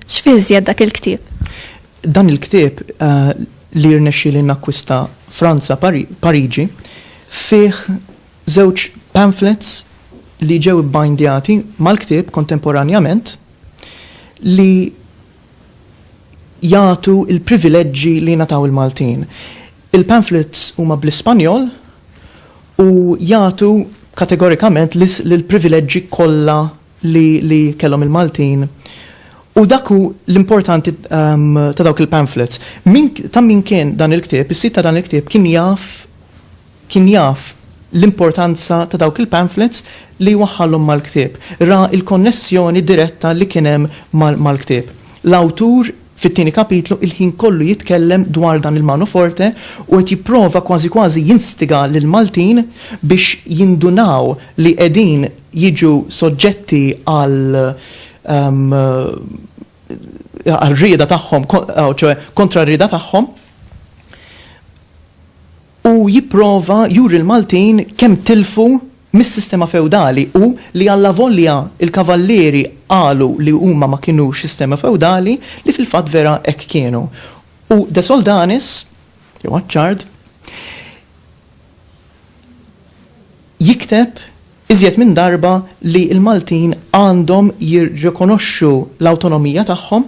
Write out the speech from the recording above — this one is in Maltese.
X'fiżjed dak il-ktieb? Dan il-ktieb eh, li rnexxi li nakkwista Franza Pariġi fih żewġ pamphlets li ġew bindjati mal-ktieb kontemporanjament li jagħtu l-privileġġi li jingħataw il-Maltin. Il-pamphlets huma bl-Ispanjol u jagħtu kategorikament l-privileġġi kollha li kellhom il-Maltin u dak hu l-importanti ta' dawk il-pamphlets. Ta' min kien dan il-ktieb, is-sid ta' dan il-ktieb kien jaf Kien jaf l-importanza ta' dawk il-pamphlets li jwaħħalhom mal-ktieb. Ra l-konnessjoni diretta li kien hemm mal-ktieb. L-awtur fit-tieni kapitlu il-ħin kollu jitkellem dwar dan il-mano forte u qed jipprova kważi kważi jinstiga lill-Maltin biex jindunaw li qegħdin jiġu soġġetti għal għal rieda tagħhom, ċoe kontra r-rieda tagħhom. u jipprova juri l-Maltin kemm tilfu mis-sistema feudali u li allavolja l-Kavallieri qalu li huma ma kinux sistema feudali, li fil-fatt vera hekk kienu. U De Soldanis, jew Attard, jikteb iżjed minn darba li l-Maltin għandhom jirrikonoxxu l-awtonomija tagħhom,